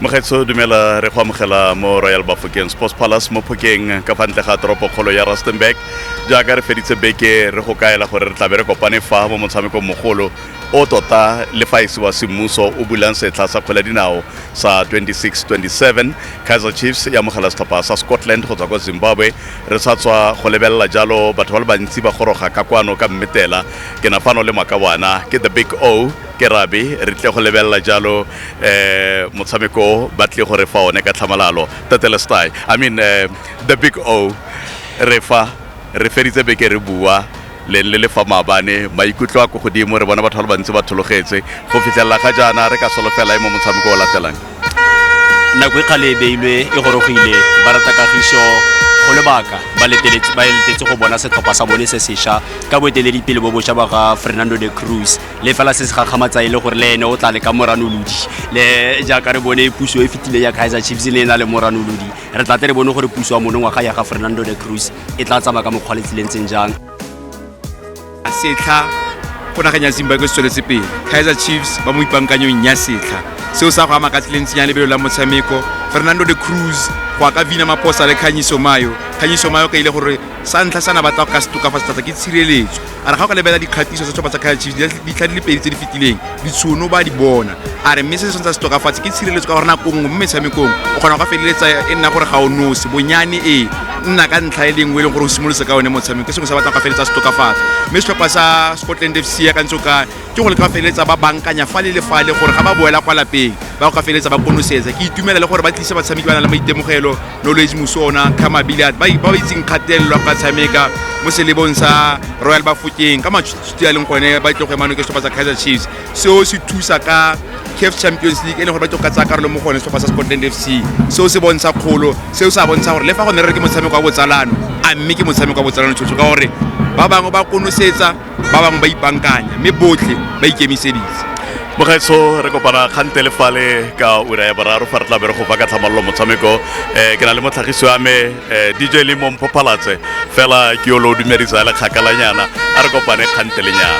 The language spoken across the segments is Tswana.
Mogetso dumela re go amogela mo Royal Bafokeng Sports Palace mo Phokeng ka fa ntle ga toropo kgolo ya Rustenburg jaaka re feditse beke re go kaela gore re tlabe re kopane fa mo motshamekong mogolo o tota le fa ese wa semmuso o bulang setlha sa kgwele dinao sa 26-27 Kaizer Chiefs ya amogela setlhopha sa Scotland go tswa kwa Zimbabwe re sa tswa go lebelela jalo batho ba le bantsi ba goroga ka kwano ka mmetela ke na fano le makawana ke the big O ke rabe re tle go lebelela jalo um motshameko o ba tle gore fa one ka tlhamalalo tetelestai i mean uh, the big o re fa re feditse beke re bua le le lefa maabane maikutlo a ko godimo re bona batho ba le bantsi ba thologetse go fitlhelela ga jaana re ka solofela e mo motshameko o latelang nako e kgale e beilwe e gorogile ba rata kagiso go lebaka ba letetse go bona setlhopha sa bone se sešwa ka boeteledipele bo bošwa ba ga fernando de cruz le fela se se gakgamatsa e le gore le ene o tla le ka moranolodi le jaaka re bone puso e fetile ya kaizer chiefs ne e na le moranolodi re tla te re bone gore puso ya mone ngwaga ya ga fernando de cruz e tla tsamaya ka mokgwa le tsileng tseng jang setlha go nageng ya zimbabwe se tsweletse pele kaizer chiefs ba mo ipankanyong ya setlha seo sa go ama ka tsileng tsenya lebelo la motshameko fernando de cruz go aka vina maposa le kganyiso mayo kganyiso mayo ka ile gore sa ntlha sana batla go ka se tokafatsa thata ke tshireletso a re ga o ka lebelela dikgatiso tsa setlhopha sa kaizer chiefs ditlha di le pedi tse di fetileng ditshono ba di bona a re mme se se tshwanetse se tokafatse ke tshireletso ka gore nako nngwe mo metshamekong o kgona go ka feleletsa e nna gore ga o nose bonyane e nna ka ntlha e lengwe e leng gore o simolotse ka one motshameko ke sengwe sa batlang go feleletsa se tokafatsa mme setlhopha sa scotland f c ya ka ntse o ka ke go le ka feleletsa ba bankanya fa le le fale gore ga ba boela kwa lapeng ba go ka feleletsa ba konosetsa ke itumela le gore ba tlise batshameki ba na le maitemogelo knowledge mosona khama billiard ba ba itseng kgatelelo ba tshameka mo selebong sa royal bafokeng ka matshutshutsi a leng gone ba itlo go emano ke setlhopha sa kaizer chiefs seo se thusa ka caf champions league e leng gore ba tlo ka tsaya karolo mo gone setlhopha sa scotland f c seo se bontsha kgolo seo se a bontsha gore le fa go ne re re ke motshameko wa botsalano a mme ke motshameko wa botsalano tshotsho ka gore ba bangwe ba konosetsa ba bangwe ba ipankanya mme botlhe ba ikemiseditse mogaetsho re kopana kgante le fale ka ura ya boraro fa re tla bere go ba ka tlhamalolo motshameko um ke na le motlhagisi wa me um dj le momphophalatse fela ke yo lo dumedisa le kgakalanyana a re kopane kgante lenyana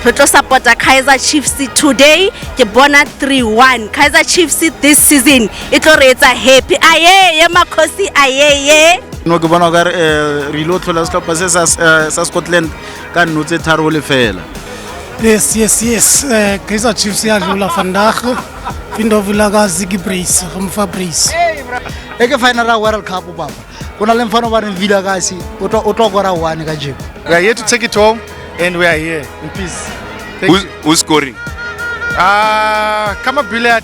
re tlo supporta kaizer chiefs today ke bona 3-1 kaizer chiefs this season e tlo re etsa happy ayeye makgosi ayeye no ke bona kare um re ile o tlhola setlhopha se sa scotland ka nno tse tharo le fela yes yes yes um kaizer chiefs ya dlola vandag findovula ka ziki brace go mofa brace e ke final ra world cup papa go na le mfano ba reng villa kasi o tlo kora one ka jeko we are here to take it home and we are here in peace Thank who's, you. who's scoring ah kama billiard